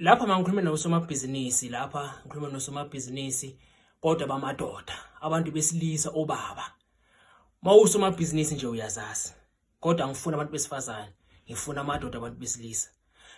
lapha mangikhuluma nosomabhizinisi lapha ngikhuluma nosomabhizinisi kodwa bamadoda abantu besilisa obaba mawusomabhizinisi nje uyazazi kodwa ngifuna abantu besifazane ngifuna amadoda abantu besilisa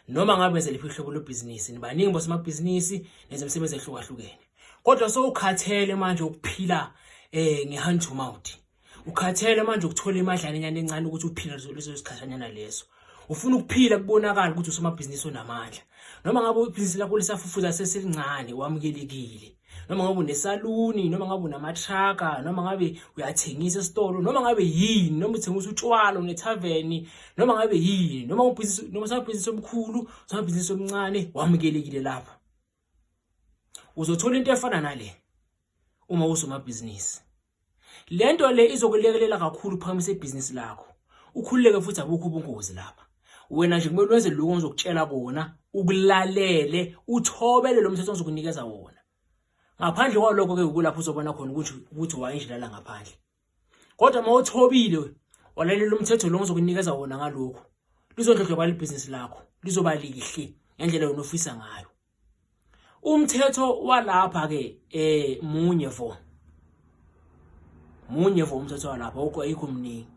noma ngabe zeliphi uhlobo lobhizinisi nibaningi bosomabhizinisi nezemisebenzi ehlukahlukene kodwa sowukhathele manje ukuphila eh ngehanjumawuthi ukhathele manje ukuthola imadlanyana encane ukuthi uphile leso sikhathanyana leso ufuna ukuphila kubonakala ukuthi usomabhizinisi onamandla noma ngabe ibhizinisi lakho lisafufuza seselincane wamukelekile noma ngabe unesaluni noma ngabe unamatraka noma ngabe uyathengisa esitolo noma ngabe yini noma uthengisa utshwala unethaveni noma ngabe yini noma ubhizinisi noma sabhizinisi omkhulu sabhizinisi omncane wamukelekile lapha uzothola into efana nale uma usomabhizinisi Le nto le izokulekelela kakhulu uphakamisa ibhizinisi lakho ukhululeke futhi abukho ubungozi lapha wena nje kumele wenze lokho ngizokutshela kona ukulalele uthobele lo mthetho ngizokunikeza wona ngaphandle kwalokho ke ukulapho uzobona khona ukuthi ukuthi wayindlela ngaphandle kodwa uma uthobile walalela umthetho lo ngizokunikeza wona ngalokho lizondlondlobala ibhizinisi lakho lizoba lihle ngendlela yona ofisa ngayo umthetho walapha ke eh munye vo munye vo umthetho walapha ukho ayikho mningi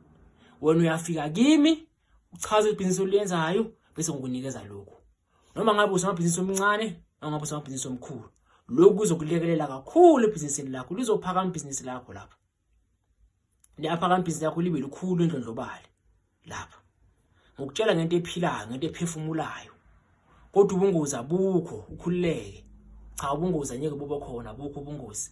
wena uyafika kimi uchaza ibhizinisi oliyenzayo bese ngikunikeza lokhu noma ngabe usomabhizinisi omncane noma ngabe usomabhizinisi omkhulu lokhu kuzokulekelela kakhulu ebhizinisini lakho lizophakama ibhizinisi lakho lapha lapha kampisi lakho libe lukhulu endlondlobale lapha ngokutshela ngento ephilayo ngento ephefumulayo kodwa ubungozi abukho ukhululeke cha ubungozi anyeke buba khona abukho ubungozi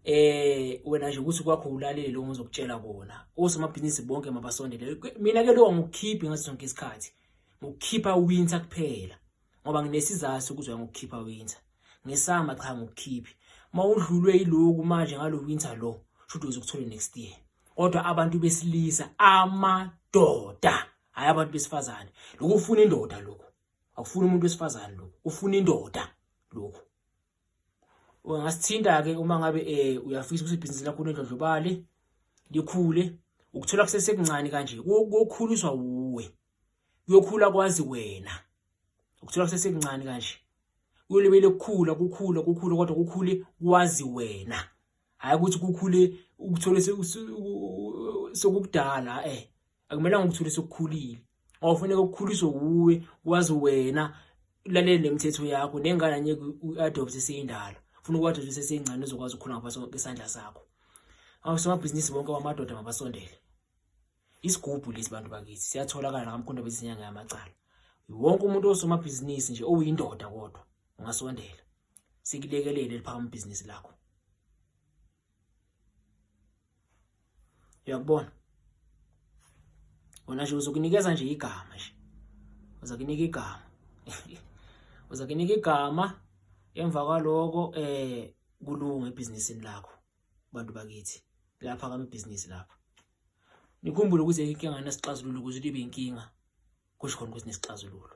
eh wena nje ukuthi kwakho ulalele lokho ngizokutshela kona osomabhizinisi bonke mabasondele mina ke lokho ngikukhiphi ngaso sonke isikhathi ngokukhipha winter kuphela ngoba nginesizathu sokuzwa ngokukhipha winter ngesama cha ngokukhiphi mawudlulwe yiloku manje ngalo winter lo shothi uzokuthole next year kodwa abantu besilisa amadoda hayi abantu besifazane lokhu ufuna indoda lokhu akufuni umuntu wesifazane lokhu ufuna indoda lokhu ungasithinta ke uma ngabe eh uyafisa ukuthi ibhizinisi lakho lendlondlobale likhule ukuthola kusesekuncane kanje kokhuliswa uwe kuyokhula kwazi wena ukuthola kusesekuncane kanje uyolibele kukhula kukhula kukhula kodwa kukhule kwazi wena hayi ukuthi kukhule ukuthole sokukudala eh akumelanga ukuthole sokukhulile awufuneka ukukhuliswe wuwe wazi wena ulalele nemithetho yakho nengane anye uadopt seyindala ufuna ukwadopt seseyingcane uzokwazi ukukhula ngapha isandla sakho awusomabhizinisi bonke wamadoda mabasondele isigubhu lesi bantu bakithi siyatholakala nakamkhonto bezinyanga yamacala wonke umuntu osomabhizinisi nje owuyindoda kodwa ungasondela sikulekelele liphakama ibhizinisi lakho uyakubona wona nje uzokunikeza nje igama nje uzakunika igama uzakunika igama emva kwaloko eh kulunga ebhizinisini lakho bantu bakithi lapha kamabhizinisi lapha nikhumbule ukuze inkinga nesixazululo ukuze libe inkinga kusho khona ukuthi nesixazululo